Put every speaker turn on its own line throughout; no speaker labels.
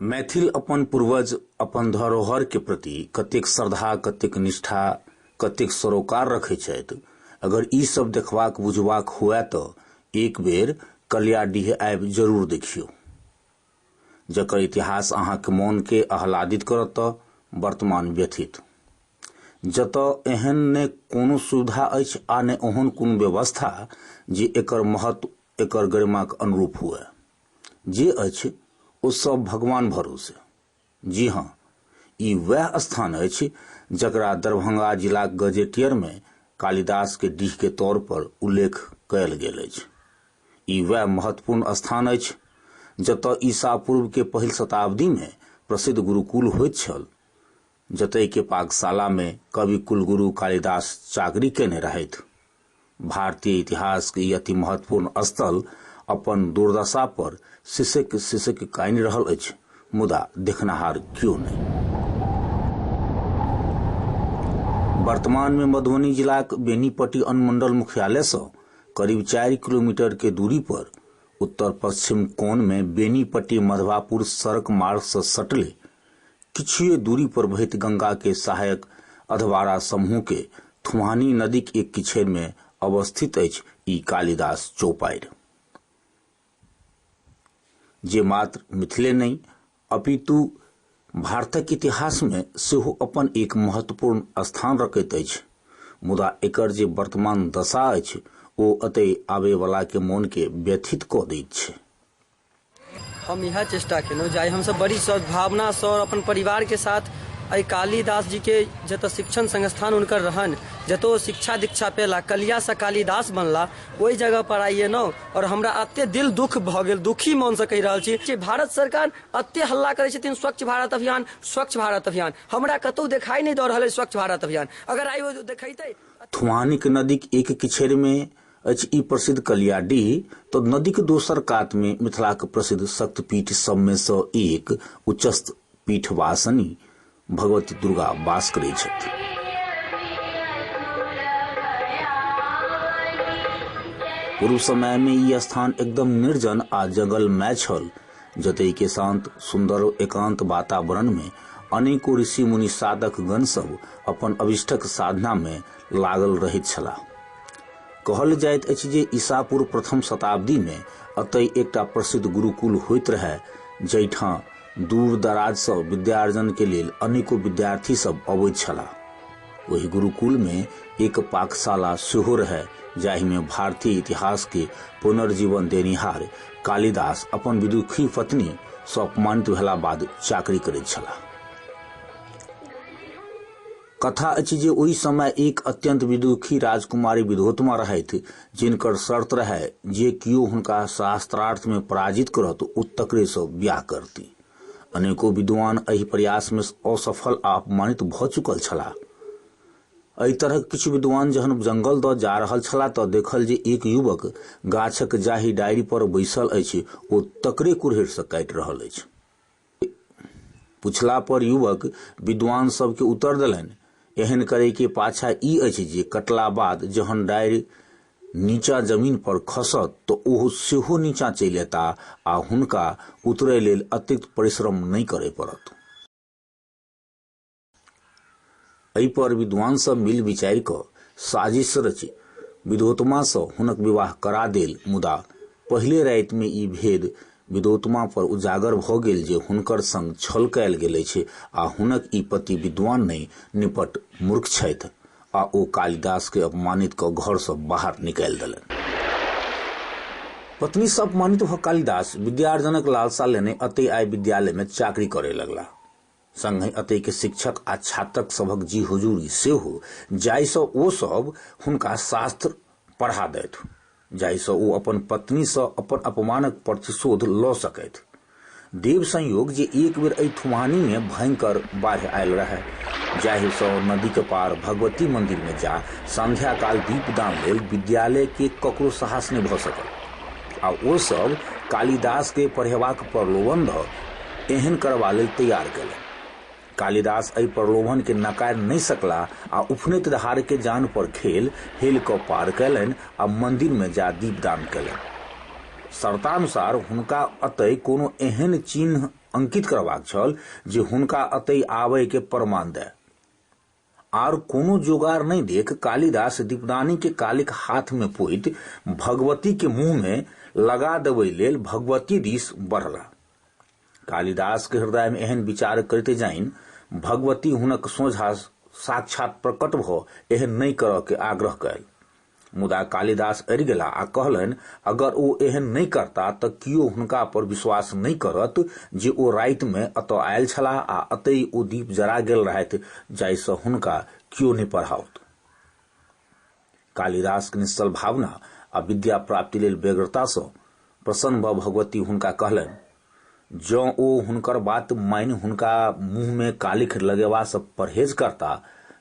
मैथिल अपन पूर्वज अपन धरोहर के प्रति कतेक श्रद्धा कतेक निष्ठा कतेक सरोकार रखे छथि अगर ई सब देखबाक बुझबाक हुए तो एक बेर कलियाडीह आबि जरूर देखियो जकर इतिहास अहाँ के मन के आह्लादित करत तो वर्तमान व्यथित जत एहन ने कोनो सुविधा अछि आ ने ओहन कोनो व्यवस्था जे एकर महत्व एकर गरिमा के अनुरूप हुए जे अछि ओ सभ भगवान भरोसे। जी हँ, ई वैह स्थान अछि जकरा दरभंगा जिलाक गजेटियर मे कालिदास के डीह के तौर पर उल्लेख कयल गेल अछि। ई वैह महत्वपूर्ण स्थान अछि जतय ईसा पूर्व के पहिल शताब्दी मे प्रसिद्ध गुरुकुल होइत छल। जतय के पाकशाला मे कवि कुलगुरु कालिदास चाकरी कयने रहथि। भारतीय इतिहास के ई अति महत्वपूर्ण स्थल अपन दुर्दशा पर सिसकि-सिसकि कानि रहल अछि मुदा देखनहार क्यो नहि। वर्तमान मे मधुबनी जिलाक बेनीपट्टी अनुमंडल मुख्यालय सँ करीब चारि किलोमीटर के दूरी पर उत्तर-पश्चिम कोण मे बेनीपट्टी-मधवापुर सड़क मार्ग सँ सटले किछुए दूरी पर बहैत गंगा के सहायक अधवारा समूह के थुहानी नदीक एक किछैर मे अवस्थित अछि ई कालिदास चौपाइर। जे मात्र मिथिले नहि अपितु भारतक इतिहास मे सेहो अपन एक महत्वपूर्ण स्थान रखैत अछि। मुदा एकर जे वर्तमान दशा अछि ओ अतै आबैवला के मोन के व्यथित कऽ दैत छै। हम इएह चेष्टा केलहुँ जे आइ हमसभ बड़ी सद्भावनासँ आओर अपन परिवारके साथ एहि कालिदास जीके जतऽ शिक्षण संस्थान हुनकर रहनि जतऽ ओ शिक्षा दीक्षा पेला कलियासँ कालिदास बनला ओहि जगह पर आइ एलहुँ आओर हमरा अते दिल दुख भऽ गेल दुखी मनसँ कहि रहल छी जे भारत सरकार अते हल्ला करै छथिन स्वच्छ भारत अभियान स्वच्छ भारत अभियान हमरा कतहु देखाइ नहि दऽ रहल अछि स्वच्छ भारत अभियान अगर आइ ओ देखैतै थुआनिक नदीक एक किछड़िमे अछि ई प्रसिद्ध कलियाडीह तऽ नदीक दोसर कातमे मिथिलाक प्रसिद्ध शक्तिपीठ सभमे सँ एक उच्चस्थ पीठवासनि भगवती दुर्गा वास करैत छथि। पूर्व समयमे ई स्थान एकदम निर्जन आ जंगलमय छल, जतयके शांत, सुन्दर, एकांत वातावरणमे अनेको ऋषि-मुनि साधकगण सभ अपन अभीष्टक साधनामे लागल रहैत छलाह। कहल जाइत अछि जे ईसापुर प्रथम शताब्दी में अतय एकटा प्रसिद्ध गुरुकुल होइत रहय जहिठां दूर दराज सँ विद्यार्जन के लेल अनेको विद्यार्थी सब अबैत छलाह ओहि गुरुकुल में एक पाकशाला सेहो रहय जाहि में भारतीय इतिहास के पुनर्जीवन देनिहार कालिदास अपन विदुखी पत्नी सँ अपमानित भेला बाद चाकरी करैत छलाह कथा अछि जे ओहि समय एक अत्यंत विदुखी राजकुमारी विधोत्मा रहथि जिनकर शर्त रहै जे कियो हुनका शास्त्रार्थ में पराजित करत ओ तकरे सँ ब्याह करती अनेको विद्वान एहि प्रयास में असफल आ अपमानित भऽ चुकल छलाह एहि तरहक किछु विद्वान जहन जंगल दऽ जा रहल छलाह तऽ देखल जे एक युवक गाछक जाहि डारि पर बैसल अछि ओ तकरे कुरहरि सँ काटि रहल अछि पुछला पर युवक विद्वान सबके उत्तर देलनि एहन करे के पाछा ई अछि जे कटला बाद जहन डारि नीचा जमीन पर खसत तऽ ओहो सेहो नीचा चलि एता आ हुनका उतरे लेल अतिरिक्त परिश्रम नहि करे पड़त। एहि पर विद्वान सब मिल विचारि क साजिश रचि विदोतमा सँ हुनक विवाह करा देल मुदा पहिले राति मे ई भेद विदोतमा पर उजागर भ गेल जे हुनकर संग छल कयल गेल अछि आ हुनक ई पति विद्वान नहि निपट मूर्ख छथि आ ओ कालिदास के अपमानित क घर सँ बाहर निकालि देलनि। पत्नी सँ अपमानित भ कालिदास विद्यार्जनक लालसा लेने अतय आबि विद्यालय मे चाकरी करय लगलाह। संगहि अतैक शिक्षक आ छात्रक सभक जी हुजूरी सेहो जाहि सँ ओ सभ हुनका शास्त्र पढ़ा दैथ जाहि सँ ओ अपन पत्नी सँ अपन अपमानक प्रतिशोध लऽ सकैथ। देव संयोग जे एक बेर एहि थुम्हानी मे भयंकर बाढ़ि आयल रहय जाहि सँ नदीक पार भगवती मंदिर मे जा संध्याकाल दीपदान लेल विद्यालय के ककरो साहस नहि भऽ सकल। आ ओ सभ कालिदास के पढ़ेबाक प्रलोभन द एहन करबा लेल तैयार कयलनि। कालिदास एहि प्रलोभन के नकारि नहि सकलाह आ उफनैत धार के जान पर खेल हेलि क पार कयलनि आ मंदिर मे जा दीपदान कयलनि। शर्तानुसार हुनका अतय कोनो एहन चिन्ह अंकित करबाक छल जे हुनका अतय आबय के प्रमाण दय। आर कोनो जोगार नहि देख कालिदास दीपदानीकेँ कालीक हाथमे पोति भगवतीक मुँहमे लगा देबय लेल भगवती दिस बढ़लाह। कालिदासक हृदयमे एहन विचार करिते जाइन भगवती हुनक सोझाँ साक्षात् प्रकट भऽ एहन नहि करयकेँ आग्रह कयल। मुदा कालिदास अड़ि गेला आ कहलनि अगर ओ एहन नहि करता तऽ कियो हुनका पर विश्वास नहि करत जे ओ रातिमे अतऽ आयल छलाह आ अतै ओ दीप जरा गेल रहथि जाहिसँ हुनका कियो नहि पढ़ाओत कालिदासके निश्चल भावना आ विद्या प्राप्ति लेल व्यग्रतासँ प्रसन्न भऽ भगवती हुनका कहलनि जँ ओ हुनकर बात मानि हुनका मुँहमे कालिख लगेबासँ परहेज करता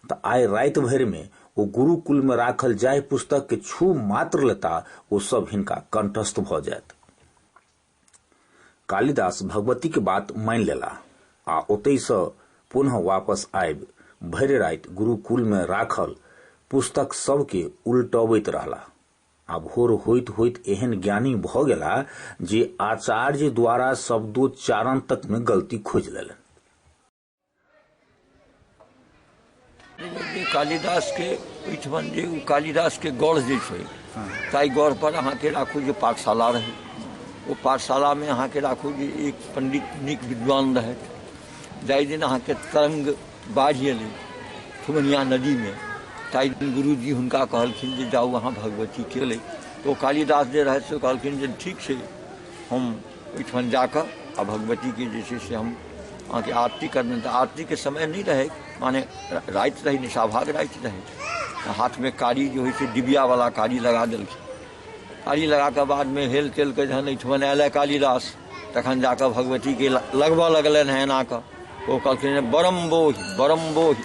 तँ आइ राति भरिमे ओ गुरुकुलमे राखल जाहि पुस्तककेँ छू मात्र लेता ओ सभ हिनका कण्ठस्थ भऽ जाएत। कालिदास भगवतीक बात मानि लेलाह आ ओतहिसँ पुनः वापस आबि भरि राति गुरुकुलमे राखल पुस्तक सभकेँ उलटबैत रहलाह। आ भोर होइत होइत एहन ज्ञानी भऽ गेला जे आचार्य द्वारा शब्दोच्चारण तक में गलती खोज लेलन कालिदास के ओहिठमन जे ओ कालिदास के गढ़ जे छै ताहि गढ़ पर अहाँके राखू जे पाठशाला रहै ओ पाठशाला में अहाँके राखू जे एक पंडित नीक विद्वान रहथि जाहि दिन अहाँके तरंग बाढ़ि एलै फुगनिया नदीमे ताहि दिन गुरुजी हुनका कहलखिन जे जाउ अहाँ भगवती केलै तऽ ओ कालिदास जे रहथि से कहलखिन जे ठीक छै हम ओहिठाम जाकऽ आ भगवतीके जे छै से हम अहाँके आरती करबनि तऽ आरतीके समय नहि रहै माने राति रहै निशाभाग राति रहै हाथमे कारी जे होइ छै डिबियावला कारी लगा देलखिन आली लगा के बाद में हेल तेल के जहन एहिठमन आयल है कालिदास तखन जाकर भगवती के लगबऽ लगलनि है एना कऽ ओ कहलखिन बरम बोहि बरम बोहि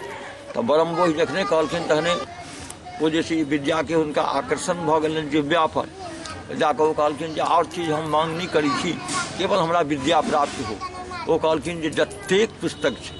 तऽ बरम बोहि जखने कहलखिन तहने ओ जे छै विद्या के हुनका आकर्षण भऽ गेलनि जिव्या पर जाकर ओ कहलखिन जे आओर चीज हम मांग नहि करै छी केवल हमरा विद्या प्राप्त हो ओ कहलखिन जे जतेक पुस्तक छै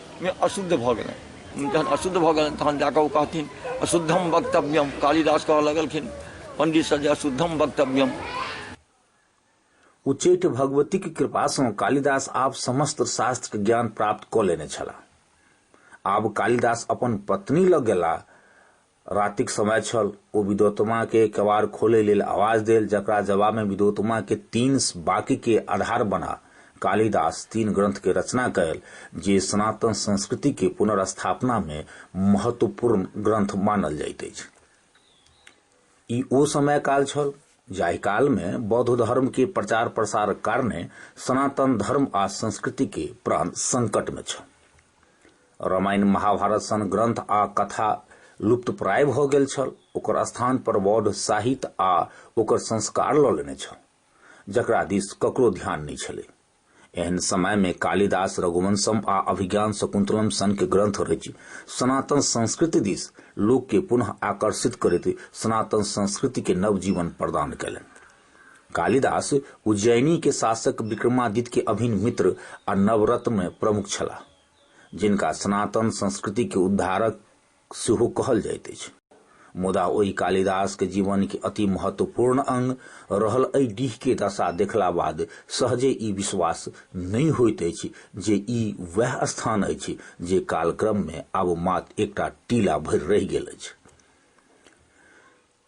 मे अशुद्ध भऽ गेलनि जहन अशुद्ध भऽ गेलनि तहन जाकऽ ओ कहथिन अशुद्धम वक्तव्यम कालिदास कहऽ लगलखिन पंडितसँ जे अशुद्धम वक्तव्यम उच्चैठ भगवतीक कृपासँ कालिदास आब समस्त शास्त्रक ज्ञान प्राप्त कऽ लेने छलाह आब कालिदास अपन पत्नी लग गेला रातिक समय छल। ओ विद्वतमा कें केबाड़ खोलय लेल आवाज देल जकरा जवाब मे विद्वतमा कें तीन बाक्य कें आधार बना कालिदास तीन ग्रंथ कें रचना कयल जे सनातन संस्कृति कें पुनर्स्थापना मे महत्वपूर्ण ग्रंथ मानल जाइत अछि। ई ओ समय-काल छल जाहि काल मे बौद्ध धर्म कें प्रचार-प्रसारक कारणे सनातन धर्म आ संस्कृति कें प्राण संकट मे छल। रामायण महाभारत सन ग्रंथ आ कथा लुप्तप्राय भऽ गेल छल ओकर स्थान पर बौद्ध साहित्य आ ओकर संस्कार लऽ लेने छल जकरा दिस ककरो ध्यान नहि छलै एहन समय में कालिदास रघुवंशम आ अभिज्ञान शकुंतलम सन के ग्रंथ रचि सनातन संस्कृति दिस लोक के पुनः आकर्षित करते सनातन संस्कृति के नवजीवन प्रदान कयलनि कालिदास उज्जयिनी के शासक विक्रमादित्य के अभिन्न मित्र आ नवरत्न में प्रमुख छलाह, जिनका सनातन संस्कृति के उद्धारक सेहो कहल जाइत अछि। मुदा ओहि कालिदास के जीवन के अति महत्वपूर्ण अंग रहल एहि डीह के दशा देखला बाद सहजे ई विश्वास नहि होइत अछि जे ई वैह स्थान अछि जे कालक्रम में आब मात्र एकटा टीला भरि रहि गेल अछि।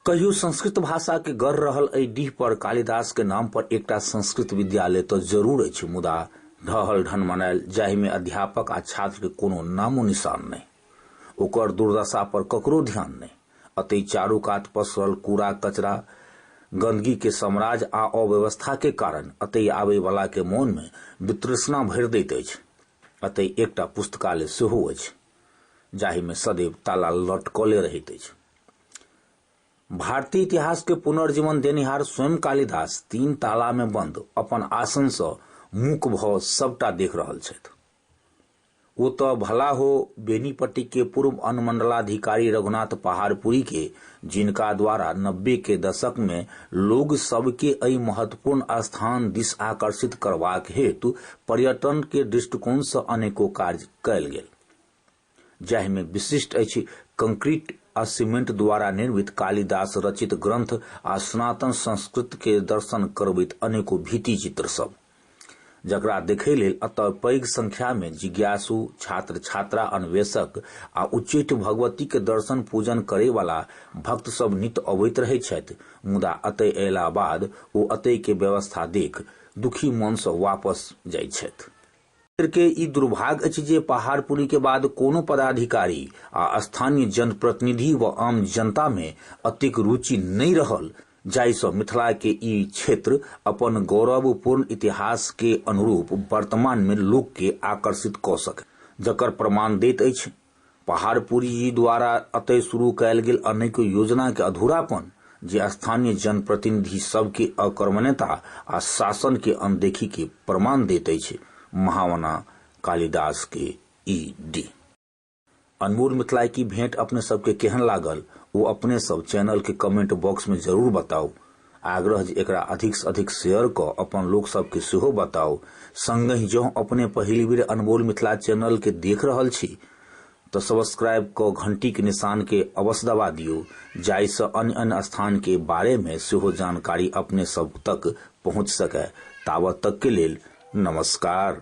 कहियो संस्कृत भाषा के गढ़ रहल एहि डीह पर कालिदास के नाम पर एकटा संस्कृत विद्यालय तो जरूर अछि मुदा ढहल ढन मनायल जाहि में अध्यापक आ छात्र के कोनो नामो निशान नहीं ओकर दुर्दशा पर ककरो ध्यान नहीं अतई चारू कात पसरल कूड़ा कचरा गंदगी के साम्राज्य आ अव्यवस्था के कारण अतई आबे वाला के मन में वितृष्णा भरि दैत अछि अतई एकटा पुस्तकालय सेहो अछि जाहि में सदैव ताला लटकले रहैत अछि भारतीय इतिहास के पुनर्जीवन देनिहार स्वयं कालिदास तीन ताला में बंद अपन आसन से मुक भ सबटा देख रहल छथि ओ तऽ भला हो बेनीपट्टी के पूर्व अनुमंडलाधिकारी रघुनाथ पहाड़पुरी के जिनका द्वारा नब्बे के दशक में लोग सबके एहि महत्वपूर्ण स्थान दिस आकर्षित करबाक हेतु पर्यटन के दृष्टिकोण से अनेको कार्य कयल गेल जाहि में विशिष्ट अछि कंक्रीट आ सीमेंट द्वारा निर्मित कालिदास रचित ग्रंथ आ सनातन संस्कृत के दर्शन करबैत अनेको भीति चित्र सब जकरा देखै लेल अतः पैघ संख्या में जिज्ञासु छात्र छात्रा अन्वेषक आ उच्चैठ भगवती के दर्शन पूजन करै वाला भक्त सब नित अबैत रहै छथि मुदा अतै अयला बाद ओ अतै के व्यवस्था देख दुखी मन सँ वापस जाइ छथि के ई दुर्भाग्य अछि जे पहाड़पुरी के बाद कोनो पदाधिकारी आ स्थानीय जनप्रतिनिधि व आम जनता में अतिक रुचि नहीं रहल जाहिसँ मिथिला के ई क्षेत्र अपन गौरवपूर्ण इतिहास के अनुरूप वर्तमान में लोक के आकर्षित कऽ सके जकर प्रमाण दैत अछि पहाड़पुरी जी द्वारा अतय शुरू कयल गेल अनेको योजना के अधूरापन जे स्थानीय जनप्रतिनिधि सब के अकर्मण्यता आ शासन के अनदेखी के प्रमाण देत अछि महावना कालिदास के इ डी। अनमोल मिथिला की भेंट अपने सब के केहन लागल ओ अपने सब चैनल के कमेंट बॉक्स में जरूर बताउ। आग्रह जे एकरा अधिक से अधिक शेयर क अपन लोक सब के सेहो बताउ। संगहि जँ अपने पहिल बेर अनमोल मिथिला चैनल के देख रहल छी त सब्सक्राइब क घंटी के निशान के अवश्य दबा दियौ जाहि स अन्य अन्य स्थान के बारे मे सेहो जानकारी अपने सब तक पहुँच सके। ताबत तक के लेल नमस्कार।